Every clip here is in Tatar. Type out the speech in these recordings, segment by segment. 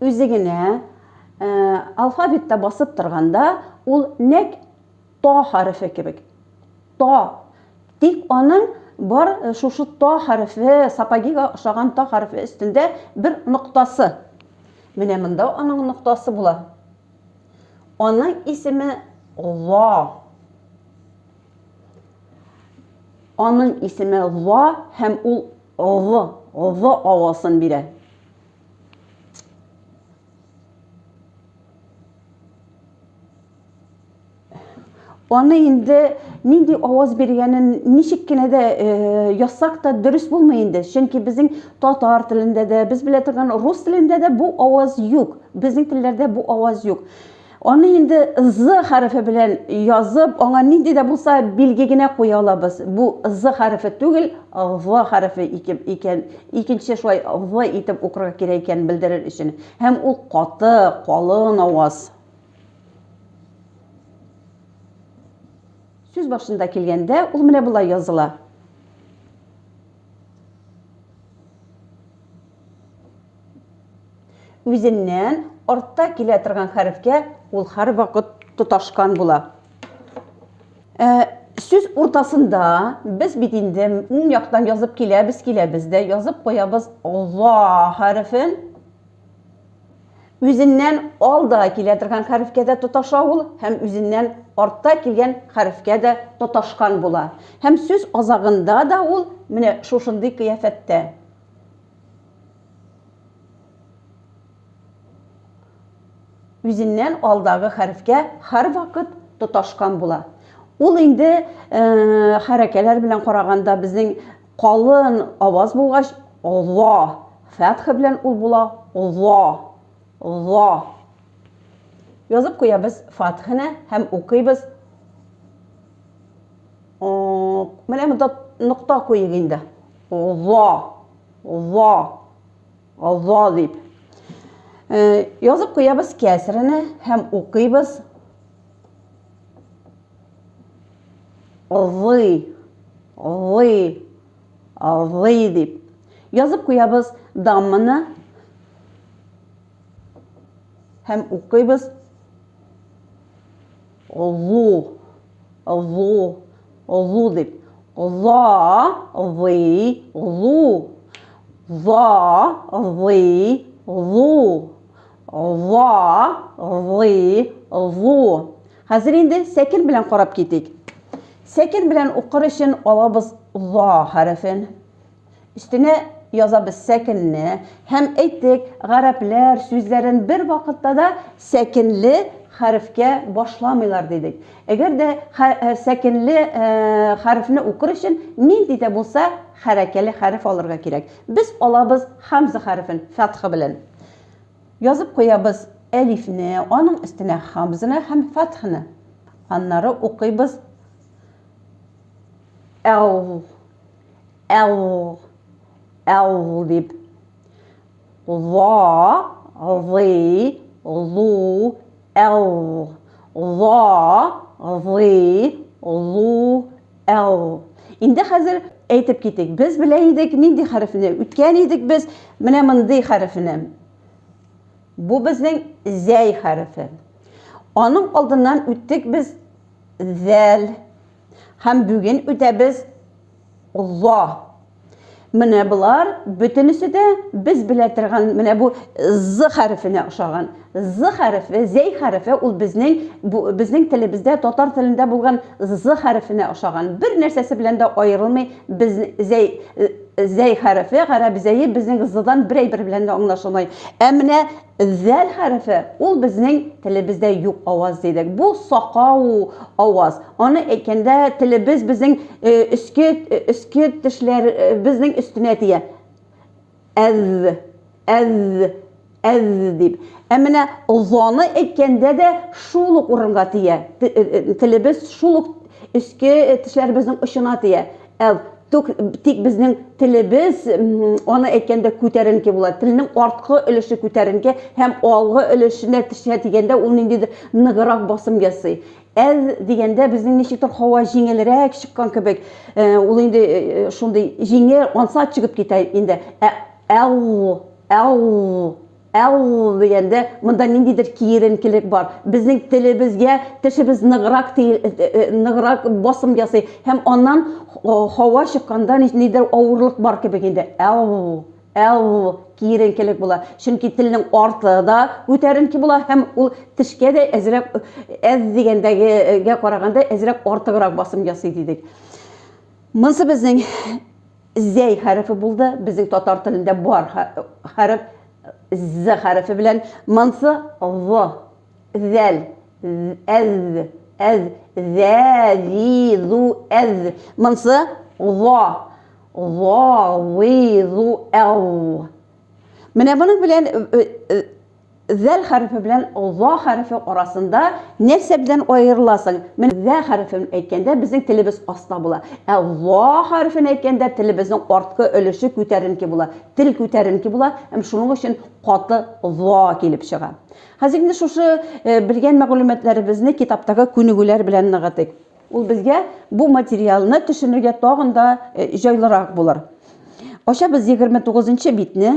үзе генә ә, алфавитта басып торганда ул нәк то хәрефе кебек то тик аның бар э, шушы то хәрефе сапагига ошаган то хәрефе өстендә бер ноктасы менә монда аның ноктасы була аның исеме ло Аның исеме Ла һәм ул Лы, Лы авасын бирә. Аны инде нинди аваз биргәнен ничек кенә дә э, язсак та дөрес булмый инде. Чөнки безнең татар телендә дә, без белә торган рус телендә дә бу аваз юк. Безнең телләрдә бу аваз юк. Аны инде з хәрефе белән язып, аңа нинди дә булса билге генә куя алабыз. Бу з хәрефе түгел, г хәрефе икән, икенче шулай в итеп укырга кирәк икәнен белдерер өчен. Һәм ул каты, калын аваз. Сүз башында килгәндә, ул менә болай языла. үзеннән артта килә торган хәрефкә ул һәрвакыт тоташкан була. Ә, сүз уртасында без бит инде уң яктан язып киләбез, киләбез дә язып куябыз Алла хәрефен. Үзеннән алда килә торган хәрефкә дә тоташа ул һәм үзеннән артта килгән хәрефкә дә тоташкан була. Һәм сүз азагында да ул менә шушындый кыяфәттә. үзеннән алдагы хәрефкә һәрвакыт тоташкан була. Ул инде хәрәкәләр белән караганда безнең калын аваз булгач, ла фәтха белән ул була, ла, ла. Язып куябыз фатханы һәм укыйбыз. Менә монда нокта куйыйк инде. Ла, ла, ла дип. Язып куябыз кәсрене һәм укыйбыз. Лы, лы, лы дип. Язып куябыз дамманы һәм укыйбыз. Лу, Лу, лу дип. Ла, лы, лу. Ла, лы, лу. Ла, лы, лу. Хәзер инде сәкер белән карап китик. Сәкер белән укыр өчен алабыз ла хәрефен. Өстенә язабыз сәкенне һәм, әйтик, гарәпләр сүзләрен бер вакытта да сәкенле хәрефкә башламыйлар дидек. Әгәр дә сәкенле хәрефне укыр өчен нинди дә булса хәрәкәле хәреф алырга кирәк. Без алабыз хамза хәрефен, фәтха белән. Язып куябыз әлифне, аның өстенә хамзаны һәм фәтхны. Аннары укыйбыз әу. Л, л дип. Ла, лы, лу, л. Ла, лы, лу, л. Инде хәзер әйтеп китик. Без белә идек нинди хәрефне. Үткән идек без менә мондый хәрефне. Бу безнең зәй хәрефе. Аның алдыннан үттек без зәл. Һәм бүген үтәбез за. Менә болар бөтенесе дә без белә торган менә бу з хәрефенә ошаган. З хәрефе, зәй хәрефе ул безнең безнең телебездә татар телендә булган з хәрефенә ошаган. Бер нәрсәсе белән дә аерылмый. Без зәй зәй хәрефе, гарәп зәе безнең здан бер әйбер белән дә аңлашылмый. Ә менә Зәл хәрефе, ул безнең телебездә юк аваз дидек. Бу сакау аваз. Аны әйткәндә, телебез безнең өске өске тешләребезнең өстенә тия. Әз, әз, әз дип. Ә менә заны әйткәндә дә шул ук урынга тия. Телебез шул ук өске тешләребезнең очына тия. Әл, тук, тик безнең телебез, аны әйткәндә күтәренке була. Телнең арткы өлеше күтәренке һәм алгы өлешенә тешә дигәндә ул ниндидер ныгырак басым ясый. Әз дигәндә безнең ничектер һава җиңелрәк чыккан кебек, э, ул инде э, э, шундый җиңел, ансат чыгып китә инде. Ә әл, әл Ә ул дигәндә, монда ниндидер киеренкелек бар. Безнең телебезгә тешебез ныграк ныграк басым ясый һәм аннан һава чыкканда ниндидер авырлык бар кебек инде. Ә ул ә ул киеренкелек була. Чөнки телнең арты да күтәренке була һәм ул тешкә дә әзрәк әз дигәндәгегә караганда әзрәк артыграк басым ясый дидек. Монсы безнең Зәй хәрефе булды, безнең татар телендә бар хәреф з хәрефе белән, монсы в, зәл, әз, әз, зә, зи, зу, әз, монсы ва, ва, ви, зу, әу. Менә моның белән Зәл хәрефе белән за хәрефе арасында нәрсә белән аерыла соң? Менә зә хәрефен әйткәндә безнең телебез аста була. Ә за хәрефен әйткәндә телебезнең арткы өлеше күтәренке була. Тел күтәренке була һәм шуның өчен каты за килеп чыга. Хәзер инде шушы белгән мәгълүматларыбызны китаптагы күнегүләр белән ныгытыйк. Ул безгә бу материалны төшенергә тагын да җайлырак булыр. Ачабыз егерме тугызынчы битне.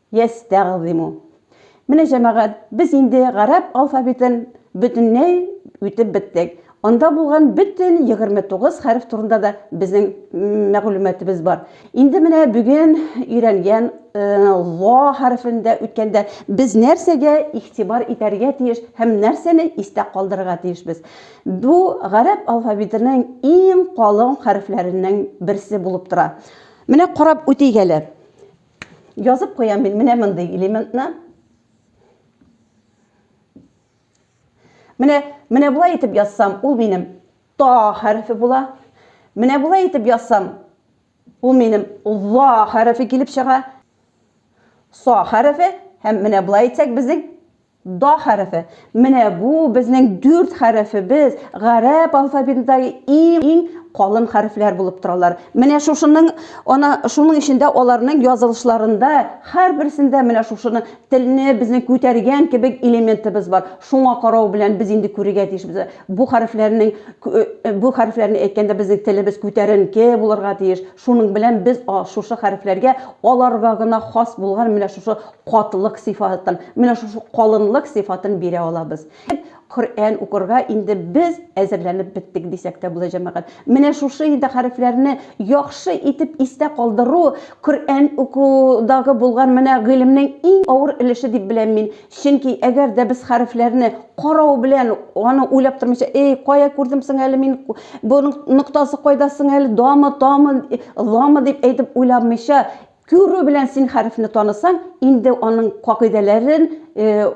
Йәстәгъзимү. Менә, җәмәгать, без инде гарәп алфавитын бөтенләй үтеп беттек. Анда булган бөтен егерме тугыз хәреф турында да безнең мәгълүматыбыз бар. Инде менә бүген өйрәнгән ла хәрефен дә үткәндә без нәрсәгә игътибар итәргә тиеш һәм нәрсәне истә калдырырга тиешбез? Бу гарәп алфавитының иң калын хәрефләренең берсе булып тора. Менә карап үтик әле. Язып куям мин менә мондый элементны. Менә, менә болай итеп язсам, ул минем та хәрефе була. Менә болай итеп язсам, ул минем ла хәрефе килеп чыга. Са хәрефе һәм менә болай итсәк, безнең Да хәрефе. Менә бу безнең дүрт хәрефебез гарәп алфавитындагы иң калын хәрефләр булып торалар. Менә шушының, ана шуның өчен дә аларның язылышларында һәрберсендә менә шушыны телне безнең күтәргән кебек элементыбыз бар. Шуңа карау белән без инде күрергә тиешбез. Бу хәрефләрнең бу хәрефләрне әйткәндә безнең телебез күтәренке булырга тиеш. Шуның белән без шушы хәрефләргә аларга гына хас булган менә шушы катылык сыйфатын, менә шушы калынлык сыйфатын бирә алабыз. Коръән укырга инде без әзерләнеп беттек дисәк тә була, җәмәгать. Менә шушы инде хәрефләрне яхшы итеп истә калдыру, Коръән укудагы булган менә гыйлемнең иң авыр өлеше дип беләм мин. Чөнки әгәр дә без хәрефләрне карау белән, аны уйлап тормыйча, Эй, кая күрдем соң әле мин, буның ноктасы кайда соң әле, дамы, тамы, ламы дип әйтеп уйламыйча, Күрү белән син хәрефне танысаң, инде аның кагыйдәләрен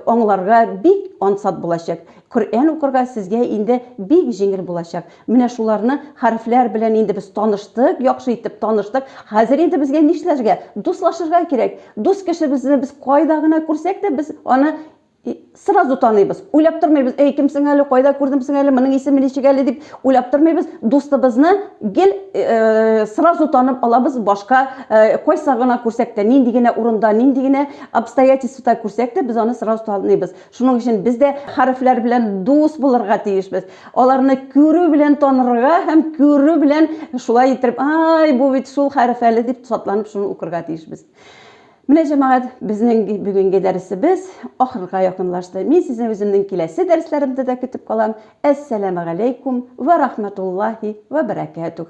аңларга бик ансат булачак. Коръән укырга сезгә инде бик җиңел булачак. Менә шуларны хәрефләр белән инде без таныштык, яхшы итеп таныштык. Хәзер инде безгә нишләргә? Дуслашырга кирәк. Дус кешебезне без кайда гына күрсәк тә, без аны И сразу таныйбыз. Уйлап тормыйбыз, әй, кемсең әле, кайда күрдемсең әле, моның исеме ничек әле дип уйлап тормыйбыз. Дустыбызны гел э, сразу танып алабыз, башка э, кайсы гына күрсәк тә, нинди генә урында, нинди генә обстоятельствода күрсәк тә, без аны сразу таныйбыз. Шуның өчен без дә хәрефләр белән дус булырга тиешбез. Аларны күрү белән танырга һәм күрү белән шулай итеп, ай, бу бит шул хәреф әле дип сатланып шуны укырга тиешбез. Менә җәмәгать, безнең бүгенге дәресебез ахырга якынлашты. Мин сезне үземнең киләсе дәресләремдә дә көтеп калам. Әссәламегаләйкүм вә рахмәтуллаһи вә бәрәкәтүһ.